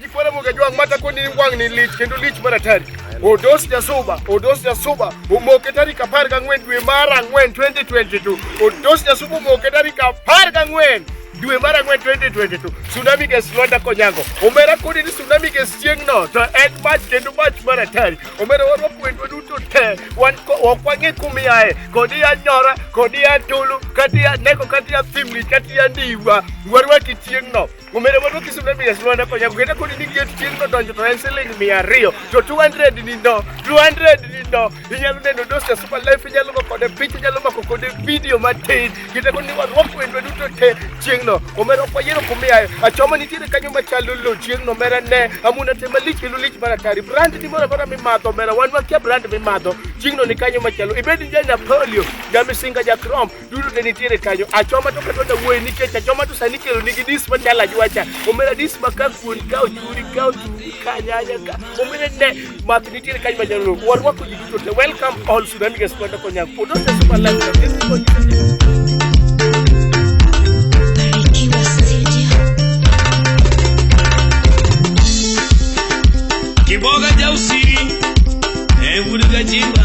Kipole mugejwang mata ko ni wang ni lich kendo lich mar atari. Odos Jasuba, Odos Jasuba, omoke tarik apar gang'wen dwe mar ang'wen 2022. Odos Jasuba omoke tarik apar gang'wen dwe mar ang'wen 2022 tsunami gas lwanda konyago omera kodi ni tsunami gas chieng'no to en mach kendo mach mar atari omera warwa kwendwa duto te wan ok wang'e kumiaye kodi ya nyora kodi ya tulu kati ya neko kati ya thimli kati ya ndiwa warwaki chieng'no Umere mondo kisum na bigas lwanda konya kugenda kodi ni gate chien kodonjo to en siling mia ariyo to 200 ni ndo 200 ni ndo inyalo neno dos ya super life inyalo go kode picha inyalo mako kode video matin kita kodi ni warwako wendwa duto te chieng'no omera ok wayiero kumiyayo achoma nitiere kanyo machalo lo chieng'no omera ne amuna te malich kendo lich mar atari brand ni moro amora mimadho omera wan wakia brand mimadho chieng'no ni kanyo machalo ibed ni ja Napoleon ja Misinga ja Chrome dudu ne nitiere kanyo achoma to kata da wuoyi nikech achoma to sani kelo nigi dis ma chala jwacha omera dis ma ka kuon ka ochuri ka ochuri ka nyanya ka omera ne math nitiere kanyo ma jalo warwako ji duto te welcome all Sudan guest kwenda konya kuodo te super life this is what Kiboga jausiri, eh, uruga jimba.